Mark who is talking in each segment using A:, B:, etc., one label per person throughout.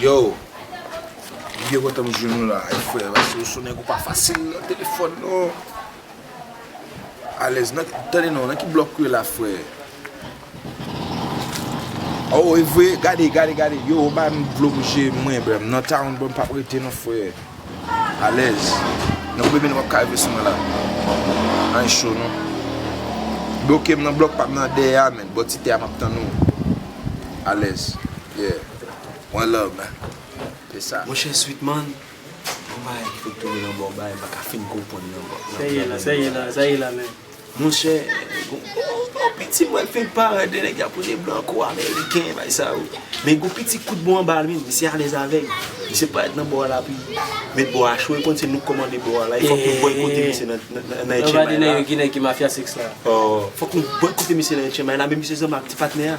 A: Yo Mwen byen kontan m jwenn nou la a frè paske w son nèg ou pa fasil nan telefòn non Alèz nan tande non nan ki blòk ou ye la frè Aww evre gade gade gade yo banm dlo m je m renmen nan town bro m pap rete non frè. Alèz Nan premye nan wap ka rive sou mwen la Anh cho non Blokem nan blòk pam nan dèyè a menn bò ti tè a map tann ou Alèz Yeah One love man Se sa. Monchè Sweetman
B: Gon bagay ki fèk tounen nan bòw bay mpaka fin konprann nan Sèye la sèye la
C: sèye la men. Monchè
B: gon piti m wè fenk parèt de nèg yap rele blanco ameriken bay sa yo men gon piti kout bon anba li menm misye alèz avèl misye parèt nan bò a la pi met bò a cho e konn se nou k kòmande bò a la e fòk nou bòykote misye nan nan
C: etchenmay la oh fòk nou
B: bòykote misye nan etchenmay la men misye zanmi ak ti patnè a.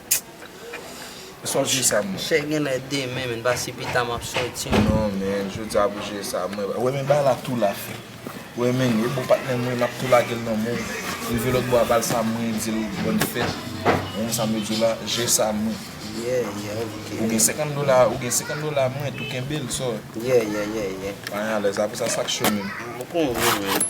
A: Sòti sa mwen. Chè genlè demen
C: menn pa si pita map soti. Non menn jodia
A: pou jwe sa mwen. Wè menn bay la tou la fè. Wè menn e bon patnèm mwen map tou lagel nan menw. Rive lòt bò a bal sa mwen dil bòn fèt. Wè menn sa mwen diw la jwe sa mwen. Yeah yeah
C: ok. Ou gen
A: 50 dola ou gen 50 dola mwen tou kenbel sò. Yeah yeah yeah
C: yeah. Mwen
A: alèz la pou sa sak cho menn. Mwen konnen menn.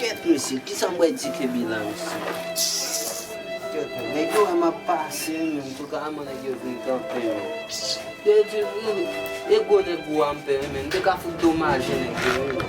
C: Kèt mesye kisa m wè di kebi la mesye. Kèt non nèg yo wè map pase wi men antouka man nèg yo vin kanpe men. Yo di wi e gwo nèg gwo a m pè wi men m te ka fout domaje nèg yo wi men.